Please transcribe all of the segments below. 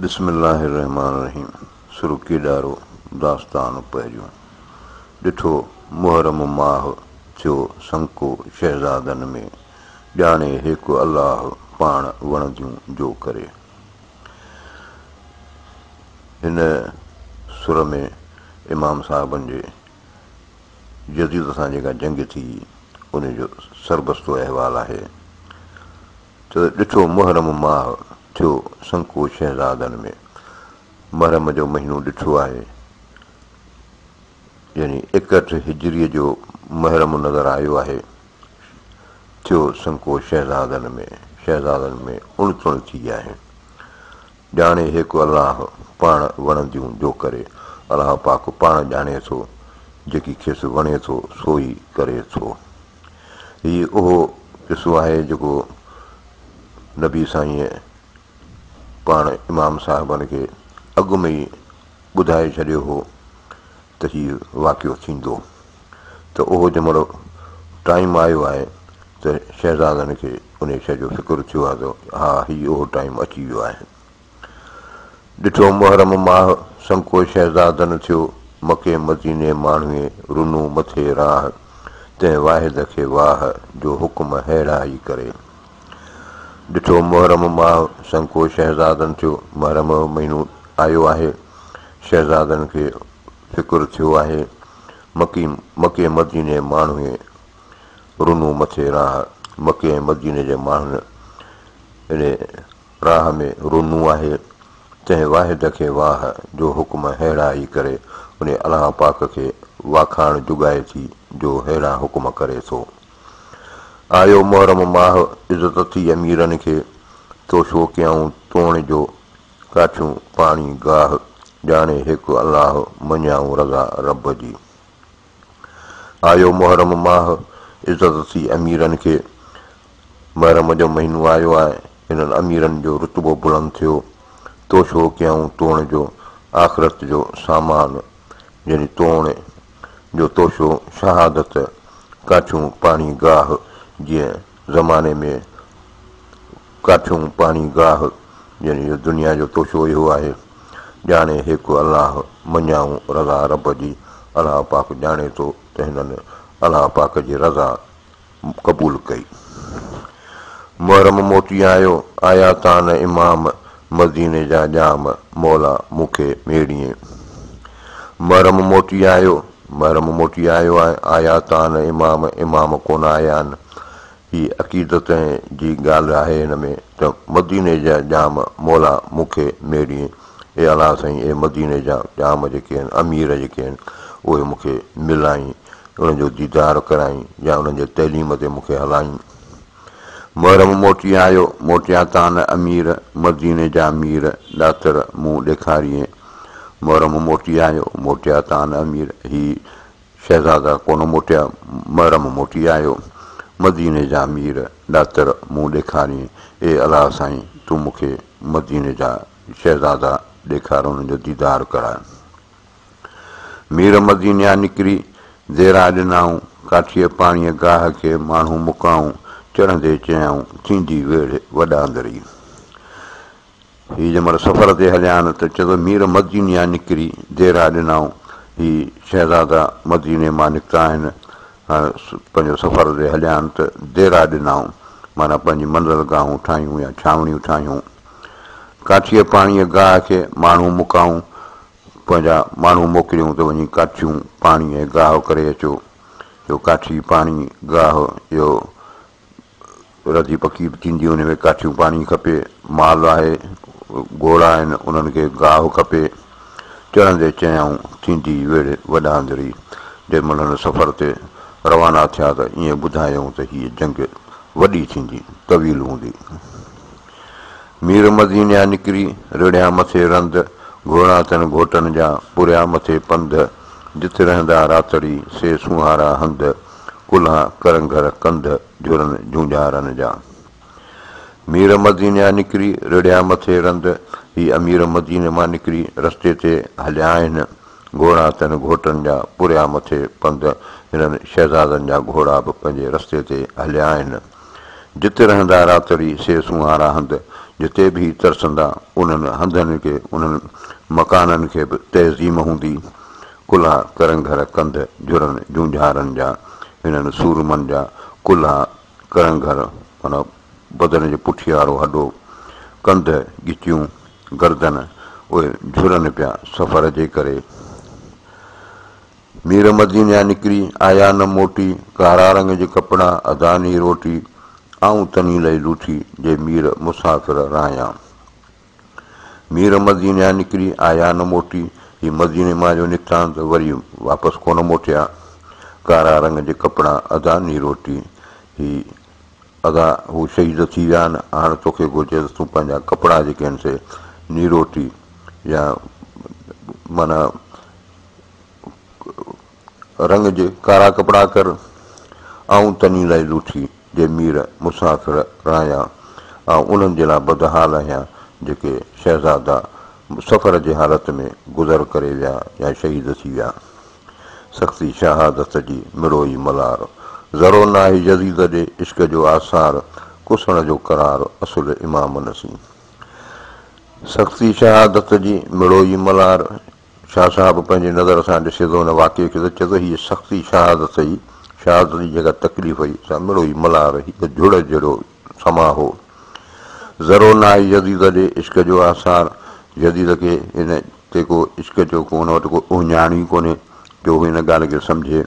بسم الله الرحمٰن الرحيم سرڪي ڏارو داستان پهريون ڏٺو محرم ماه ٿيو سنڪو شهزادن ۾ ڄاڻي هيڪ الله پاڻ وڻنديون جو ڪري هن سر ۾ امام صاحبن جي يزيد سان جيڪا جنگ ٿي ان جو سربستو احوال آهي ته ڏٺو محرم ماء ٿيو سنڪو شهزادن ۾، محرم جو مهينو ڏٺو آهي، يعني ايڪهٺ هجريء جو محرم نظر آيو آهي، ٿيو سنڪو شهزادن ۾، شهزادن ۾ اڻ تڻ ٿي ويا آهن. ڄاڻي هيڪ الله پاڻ وڻنديون جو ڪري، الله پاڪ پاڻ ڄاڻي ٿو، جيڪي کيس وڻي ٿو سو ئي ڪري ٿو. هي اهو قصو آهي جيڪو نبي سائينء پاڻ امام صاحبن کي اڳ ۾ ئي ٻڌائي ڇڏيو هو ته هي واقعو ٿيندو ته اهو جنهن مهل ٽائيم آيو آهي ته شهزادن کي انهيء شيء جو فڪر ٿيو آهي ته ها هي اهو ٽائيم اچي ويو آهي. ڏٺو محرم ماهه، سنڪو شهزاد نه ٿيو، مڪي مديني ماڻهوئي، رنو مٿي راهه، تنهن واحد کي واهه، جو حڪم ههڙا ئي ڪري. ڏٺو محرم ماهه، سنڪو شهزاد نه ٿيو، محرم جو مهينو آيو آهي، شهزادن کي فڪر ٿيو آهي، مڪي مڪي مديني ماڻهوئي، رنو مٿي راهه، مڪي ۽ مديني جي ماڻهن اڙي، راهه ۾ رونو آهي، تنهن واحد کي واهه جو حڪم ههڙا ئي ڪري ان الله پاڪ کي واکاڻ جڳائي ٿي جو ههڙا حڪم ڪري ٿو. آيو محرم ماهه عزت اٿي اميرن کي، تو شو ڪيائون توڻ جو ڪاڇيون پاڻي گاهه، ڄاڻي هڪ الله مڃيائون رضا رب جي. آيو محرم ماهه، عزت ٿي اميرن کي. محرم جو مهينو آيو آهي، هنن اميرن جو رتبو بلند ٿيو. توشو ڪيائون توڻ جو، آخرت جو سامان. يعني توڻ جو توشو شهادت، ڪاڇون پاڻي گاهه جيئن. زماني ۾ ڪاٺيون پاڻي گاهه جن جو دنيا جو توشو اهو آهي ڄاڻي هيڪ الله مڃيائون رضا رب جي الله پاڪ ڄاڻي ٿو ته هنن الله پاڪ جي رضا قبول ڪئي محرم موٽي آيو آيا تان امام مديني جا ڄام مولا مون کي ميڙيئي. محرم موٽي آيو، محرم موٽي آيو آهي، آيا تان امام، امام ڪونه آيا آهن. هي عقيدت جي ڳالهه آهي هن ۾ ته مديني جا ڄام مولا مون کي ميڙيئي. اي الهه سائين اي مديني جا ڄام جيڪي آهن، امير جيڪي آهن، اهي مون کي ملائين، انهن جو ديدار ڪرائين يا انهن جي تعليم تي مون کي هلائين. محرم موٽي آيو، موٽيا تان نه امير، مديني جا مير، ڏاتر مون ڏيکاريئي. محرم موٽي آيو، موٽيا تان نه امير، هي شهزادا ڪونه موٽيا، محرم موٽي آيو، مديني جا مير، ڏاتر مون ڏيکاريئي. اي الهه سائين! تون مون کي مديني جا شهزادا ڏيکار، انهن جو ديدار ڪراء. مير مدينيا نڪري ديرا ڏنائون، ڪاٺيء پاڻيء گاهه کي ماڻهو مڪائون، چڙهندي چيائون، ٿيندي ويڙهه وڏاندري. هي جنهن مهل سفر تي هليا آهن ته چيو ته مير مدينيا نڪري ديرا ڏنائون، هي شهزادا مديني مان نڪتا آهن، هاڻ پنهنجو سفر تي هليا آهن ته ديرا ڏنائون، معنيٰ پنهنجي منزل گاهون ٺاهيون يا ڇانوڻيون ٺاهيون. ڪاٺيء پاڻيء گاهه کي ماڻهو مڪائون، پنهنجا ماڻهو موڪليون ته وڃي ڪاٺيون، پاڻي ۽ گاهه ڪري اچو. جو ڪاٺي، پاڻي، گاهه جو رڌي پڪي به ٿيندي انهي ۾ ڪاٺيون پاڻي کپي، مال آهي، گهوڙا آهن انهن کي گاهه کپي. چڙهندي چيائون، ٿيندي ويڙهه وڏا اندري. جي مهل هن سفر تي روانا ٿيا ته ائين ٻڌايائون ته هيء جنگ وڏي ٿيندي، طويل هوندي. مير مدينيان نڪري، رڙهيان مٿي رند، گهوڙا تن گهوٽن جا، پوريا مٿي پنڌ، جت رهندا راتڙي، سي سونهارا هنڌ، ڪلها ڪرنگهر ڪنڌ، جهرن جونجهارن جا. مير مدينيان نڪري، رڙهيان مٿي رند، هي امير مديني مان نڪري، رستي تي هليا آهن، گهوڙا تن گهوٽن جا، پوريا مٿي پنڌ، هنن شهزادن جا گهوڙا به پنهنجي رستي تي هليا آهن. جت رهندا راتڙي سي سونهارا هنڌ، جتي به هي ترسندا، انهن هنڌن کي، انهن مڪانن کي به تعظيم هوندي. ڪلها ڪرنگهر ڪنڌ جھرن جونجھارن جا، هنن سورمن جا ڪلها ڪرنگهر معنيٰ بدن جو پٺي وارو هڏو، ڪنڌ، ڳچيون، گردن، اهي جھرن پيا سفر جي ڪري. مير مدينيان نڪري آيا نه موٽي، ڪارا رنگ جي ڪپڙا اداني روٽي، آئون تني لئي لوٺي، جي مير مسافر رايان. مير مدينيان نڪري آيا نه موٽي، هي مديني مان جو نڪتا ته وري واپس ڪونه موٽيا، ڪارا رنگ جي ڪپڙا اداني روٽي، هي ادا هو شهيد ٿي ويا آهن، هاڻ توکي گهرجي ته تون پنهنجا ڪپڙا جيڪي آهن سي نيروٽي يا معنيٰ رنگ جي ڪارا ڪپڙا ڪر، آئون تني لئي لوٺي جي مير مسافر راهيان، آئون انهن جي لا بدحال آهيان جيڪي شهزادا سفر جي حالت ۾ گذر ڪري ويا يا شهيد ٿي ويا. سختي شهادت جي مڙوئي ملار، ذرو ناهي يزيد ڏي عشق جو آثار، ڪسڻ جو قرار اصل امام نسين. سختي شهادت جي مڙوئي ملار. شاهه صاحب پنهنجي نظر سان ڏسي ٿو ان واقعي کي ته چئي ٿو هيء سختي شهادت هئي، شهادت جي جيڪا تڪليف هئي، سا مڙو هي ملهار هڪ جھڙ جھڙو سماء هو. ذرو ناهي يزيد ڏي عشق جو آثار، يزيد کي هن تي ڪو عشق جو ڪو هن وٽ ڪو اهڃاڻ ئي ڪونهي جو هو ان ڳالهه کي سمجھي.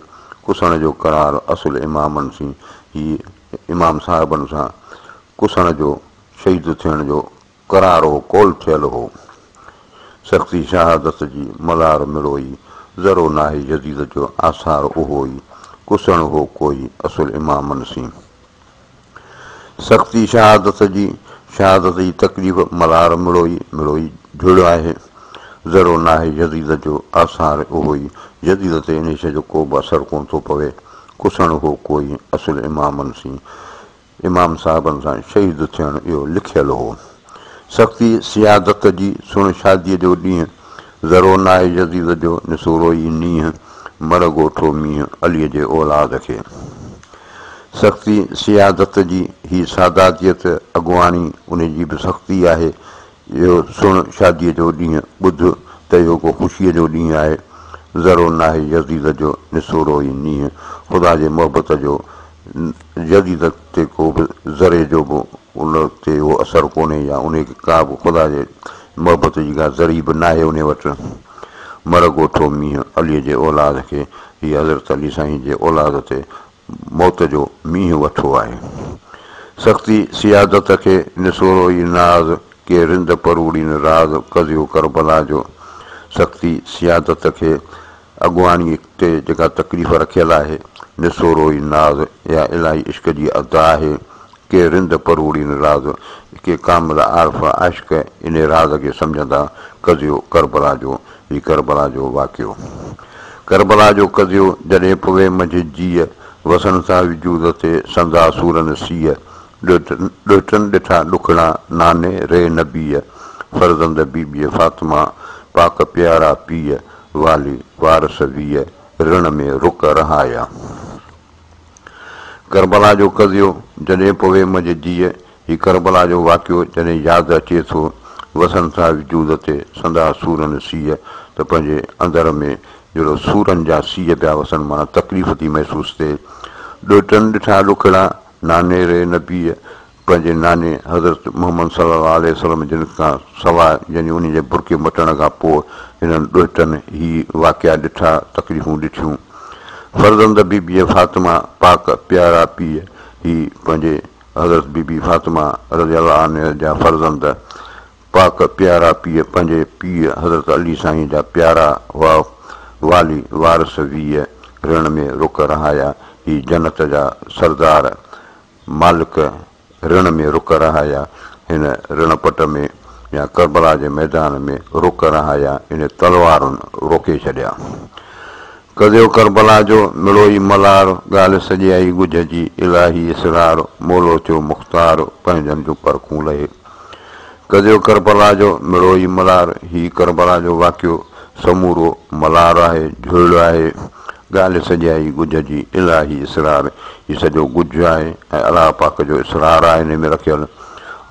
ڪسڻ جو قرار اصل امامن سين هي امام صاحبن سان ڪسڻ جو، شهيد ٿيڻ جو، ڪرارو قول ٿيل هو. سختي شهادت جي ملار مڙوئي، ذرو ناهي يزيد جو آثار اهوئي، ڪسڻ هو ڪوئي اصل امامن سين. سختي شهادت جي، شهادت جي تڪليف ملار مڙوئي، مڙوئي جھڙ آهي. ذرو ناهي يزيد جو آثار اهوئي، يزيد تي انهي شيء جو ڪوبه اثر ڪونه ٿو پوي، ڪسڻ هو ڪوئي اصل امامن سين. امام صاحبن سان شهيد ٿيڻ اهو لکيل هو. سختي سيادت جي سڻ شاديء جو ڏينهن ذرو ناهي يزيد جو نسورو ئي نينهن مڙهه ڳوٺو مينهن عليء جي اولاد کي. سختي سيادت جي هي ساداتيت اڳواڻي انهي جي به سختي آهي اهو سڻ شاديء جو ڏينهن ٻڌ ته اهو ڪو خوشيء جو ڏينهن آهي، ذرو ناهي يزيد جو نسورو هي نينهن، خدا جي محبت جو يزيد تي ڪو به ذري جو به ان تي اهو اثر ڪونهي يا انهي کي ڪا به خدا جي محبت جي ڪا ذري به ناهي انهي وٽ، مر ڳوٺو مينهن عليء جي اولاد کي هي حضرت علي سائين جي اولاد تي موت جو مينهن وٿو آهي. سختي سيادت کي نسورو ئي ناز، ڪي رند پروڙين راز قضيو ڪربلا جو سختي سيادت کي اڳواڻي تي جيڪا تڪليف رکيل آهي، نسورو ئي ناز اها الاهي عشق جي ادا آهي، ڪي رند پروڙي نه راز، ڪي ڪامل عارف عشق انهي راز کي سمجهندا، قضيو ڪربلا جو، هي ڪربلا جو واقعو. ڪربلا جو قضيو، جڏهن پوي منجهه جيء، وسن ٿا وجود تي سندا سورن سيء، ڏهٽن ڏٺا ڏکڙا، ناني ري نبيء، فرزند بيبيء فاطمه، پاڪ پيارا پيء، والي وارث ويء، رڻ ۾ رڪ رهايا. ڪربلا جو قضيو جڏهن پوي منهنجي جيء هي ڪربلا جو واقعو جڏهن ياد اچي ٿو وسن ٿا وجود تي سندا سورن سيء ته پنهنجي اندر ۾ جهڙو سورن جا سيء پيا وسن معنيٰ تڪليف ٿي محسوس ٿئي ڏوهٽن ڏٺا ڏکڙا ناني ري نبيء پنهنجي ناني حضرت محمد صلي الله عليه وسلم جن کان سواء يعني انهي جي برقعي مٽڻ کان پوء هنن ڏوهٽن هي واقعا ڏٺا، تڪليفون ڏٺيون. فرزند بي بي فاطمه پاڪ پيارا پيء هي پنهنجي حضرت بي بي فاطمه رضي الله عنها جا فرزند پاڪ پيارا پيء پنهنجي پيء حضرت علي سائين جا پيارا هئا والي وارث ويهه رڻ ۾ رک رهايا هي جنت جا سردار مالڪ رڻ ۾ رک رهايا، هن رڻ پٽ ۾ يا ڪربلا جي ميدان ۾ رک رهايا يعني تلوارن روڪي ڇڏيا. ڪڌيو ڪربلا جو مڙوئي ملار، ڳالهه سڄيائي ڳجهه جي الاهي اسرار، مولو ٿيو مختار، پنهنجن جون پرکون لهي. ڪڌيو ڪربلا جو مڙوئي ملار، هي ڪربلا جو واقعو سمورو ملار آهي، جهولڙ آهي، ڳالهه سڄائي ڳجهه جي الاهي اسرار هي سڄو ڳجهه آهي ۽ الله پاڪ جو اسرار آهي انهي ۾ رکيل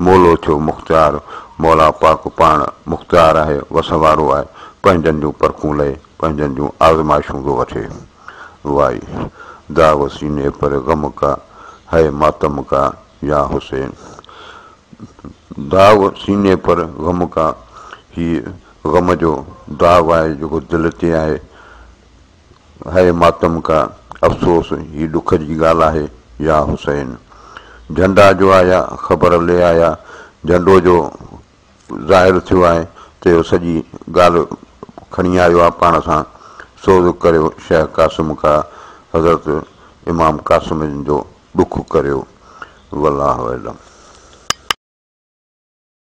مولو ٿيو مختيار مولا پاڪ پاڻ مختيار آهي وس وارو آهي پنهنجن جون پرکون لهي پنهنجن جون آزمائشون ٿو وٺي وائي داغ سيني پر غم ڪا هئ ماتم ڪا يا حسين داغ سيني پر غم ڪا هي غم جو داغ آهي جيڪو دل تي آهي هيء ماتم ڪا افسوس هي ڏک جي ڳالهه آهي يا حسين جهنڊا جو آيا خبر لي آيا جهنڊو جو ظاهر ٿيو آهي ته اهو سڄي ڳالهه کڻي آيو آهي پاڻ سان سوز ڪريو شيخ قاسم ڪا حضرت امام قاسم جو ڏک ڪريو والله اعلم.